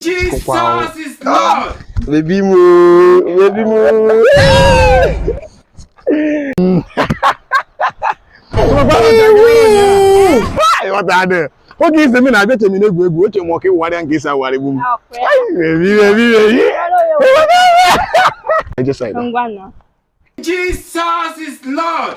Jesus is Lord. Baby mo, baby mo. ị ghọtadị oge ị sị m ị na-abịa che m ị na-egwu egwu oche m ọ ka ị wụgharịa nke isi awụgharị gbu m Jesus is Lord.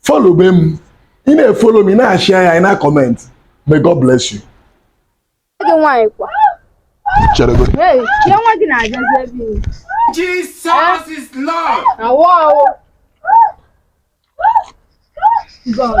follow be m ị na-efolo m ị na-ashare ya ị na-akọment may God bless you gị nwaanyị kwa cheregodi Hey, ya nwa gị na-abịazi ebe ị Jesus is Lord. na wọọ God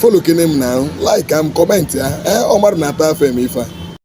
folo kene m na like a m kọmentị ya ee ọ mmadụ na-ata afụfụ eme ife a